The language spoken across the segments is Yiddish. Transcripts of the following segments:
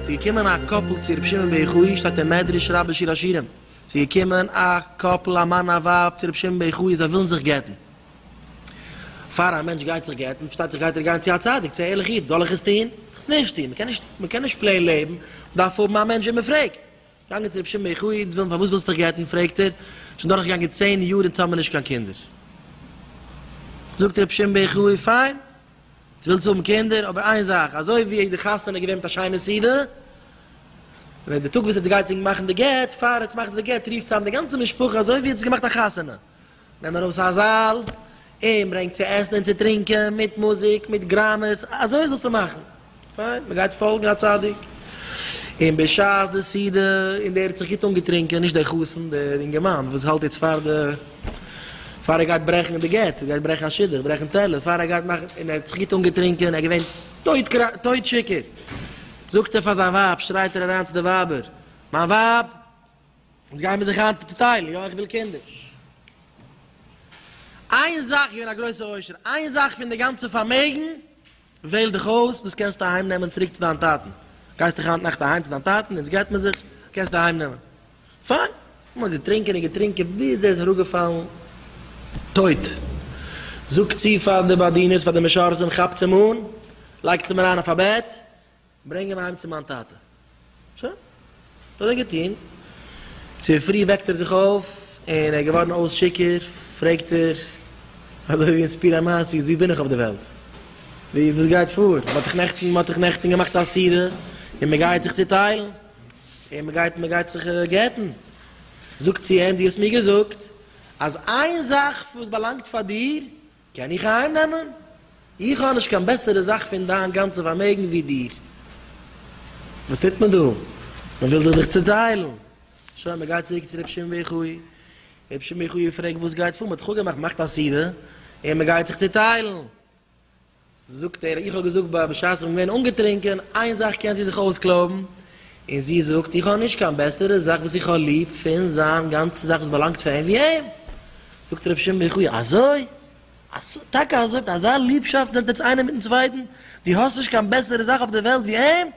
ס'איז געקומען א קאפל צו רבי שמעון בן יחאי, שטייט אין מדרש רבה שיר השירים, ס'איז געקומען א קאפל א מאן א ווייב צו רבי שמעון בן יחאי זיי ווילן זיך גט'ן, פאר א מענטש גייט זיך גט'ן, פארשטייט זיך גייט ער גיין צו א צדיק, צו א ערליכע איד, זאל איך עס טון? זאל איך עס נישט טון? מ'קען נישט, מ'קען נישט פלעין לעבן, מ'דארף האבן א מענטש וועם מ'פרעגט. געגאנגען צו רבי שמעון בער חי, איד'ס ווילן, פארוואס ווילסט דיך גט'ן? פרעגט ער, שוין דורך געגאנגען צען יאר אונז האבן נישט קיין קינדער. זאגט רבי שמעון בער חי, פיין, דו ווילסט האבן קינדער, אבער איין זאך, אזוי ווי די חתונה איז געווען מיט א שיינע סידור, ווען די טאג וואס עטס גייטס ענק מאכן די גט, פאר עטס מאכטס די גט, רופטס צאם די גאנצע משפחה אזוי ווי עטס האט געמאכט א חתונה. נעם ארויס א זאל און ברענג צו עסן און צו טרינקען מיט מוזיק מיט גראמעס, אזוי זאלסטו מאכן, פיין, מען גייט פאלגן א צדיק, און בשעת די סעודה, און דער האט זיך גוט אנגעטרינקען, נישט דער חתן, דער אינגערמאן וואס האלט יעצט פאר די, פאר ער גייט ברעכן די גט, גייט ברעכן א שידוך, ברעכן טעלער, פאר ער גייט מאכן, און ער האט זיך גוט אנגעטרינקען, ער איז געווען טויט טויט שיכור, זאגט ער פאר זיין ווייב, שרייט ער אריין צו די ווייבער, מיין ווייב! יעצט גייען מיר זיך היינט צוטיילן, יא איך וויל קינדער. איין זאך, געווען א גרויסע עושר, איין זאך פון די גאנצע פארמעגן, וועל דיך אויס, דאס קענסטו אהיים נעמען צוריק צו דיין טאטן. גייסט דאך היינט נאכט אהיים צו דיין טאטן, יעצט גט מען זיך, קענסטו אהיים נעמען. פיין. מען האט געטרינקען און געטרינקען ביז ער איז אראפגעפאלן טויט. זאגט צו פאר די באדינערס, פאר די משרתים, כאפטס אים אן, לייגטס אים אריין אויף א בעט, ברענג אים אהיים צו מיין טאטע. שוין. האט ער געטון. צופרי וועקט ער זיך אויף, און ער איז געווארן אויס שיכור, פרעגט ער, אזוי ווי אין סיפור המעשיות, וואו בין איך אויף די וועלט? וואו, וואס גייט פאר? מען האט דאך נעכטן, מען האט דאך נעכטן געמאכט א סעודה, און מען גייט זיך צוטיילן, און מען גייט, מען גייט זיך גט'ן. זאגט צו אים, דו האסט מיר געזאגט, אז איין זאך וואס באלאנגט פאר דיר, קען איך אהיים נעמען? איך האב נישט קיין בעסערע זאך פון דיין גאנצע פארמעגן ווי דיר. וואס טוט מען דא? מען וויל זיך דיך צוטיילן. שוין, מען גייט צוריק צו ר' שמעון בן יחיא. ר' שמעון בן יחיא פרעגט וואס גייט פאר? מען האט דאך אפגעמאכט, מאכט א סעודה און מען גייט זיך צוטיילן. זאגט ער, איך האב געזאגט ביי בשעת איך בין געווען אנגעטרינקען, איין זאך קענסטו זיך אויסקלויבן, און זי זאגט, איך האב נישט קיין בעסערע זאך וואס איך האב ליב פון זיין גאנצע זאך וואס באלאנגט פאר אים ווי אים. זאגט רבי שמעון ברכו, אזוי? אזוי? טאקע אזוי? מיט אזא ליבשאפט נעמט עטס איינער מיטן צווייטן? דו האסט נישט קיין בעסערע זאך אויף דער וועלט ווי אים?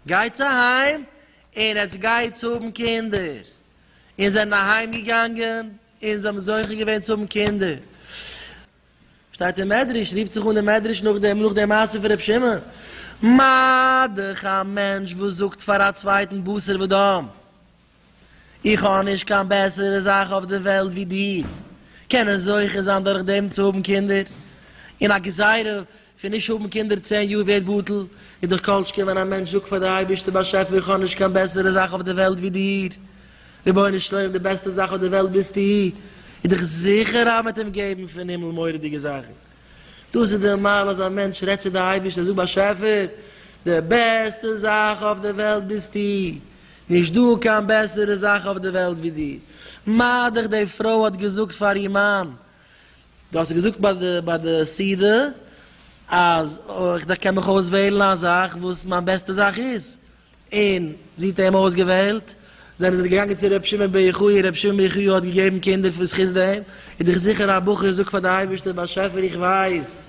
גייטס אהיים און עטס גייטס האבן קינדער. און זיי זענען אהיימגעגאנגען און זיי האבן זוכה געווען צו האבן קינדער. שטייט אין מדרש, רופט זיך אן די מדרש נאך דעם, נאך די מעשה פון ר' שמעון, מה דכ א מענטש וואס זאגט פאר א צווייטן בשר ודם, איך האב נישט קיין בעסערע זאך אויף די וועלט ווי דיר, קען ער זוכה זיין דורכדעם צו האבן קינדער, און א גזירה פון נישט האבן קינדער צען יאר ווערט בטל, איז דאך כל שכן ווען א מענטש זאגט פאר די אייבערשטער באשעפער איך האב נישט קיין בעסערע זאך אויף די וועלט ווי דיר, רבונו של עולם די בעסטע זאך אויף די וועלט ביסטו, איז דאך זיכער אז מ'וועט אים געבן פון הימל מורא'דיגע זאכן. דאס איז די מעלה אז א מענטש רעדט צו די אייבערשטער ער זאגט באשעפער די בעסטע זאך אויף די וועלט ביסטו, נישט דא קיין בעסערע זאך אויף די וועלט ווי דיר. מה דאך די פרוי האט געזאגט פאר איר מאן דו האסט געזאגט ביי די סעודה אז איך דארף קען מיך אויסוועלן א זאך וואס מיין בעסטע זאך איז, און זי האט אים אויסגעוועלט, זענען זיי געגאנגען צו ר' שמעון בר יוחאי, ר' שמעון בר יוחאי האט געגעבן קינדער בזכות דעם, איז דאך זיכער א בחור זאגט פאר די אייבערשטער באשעפער איך ווייס.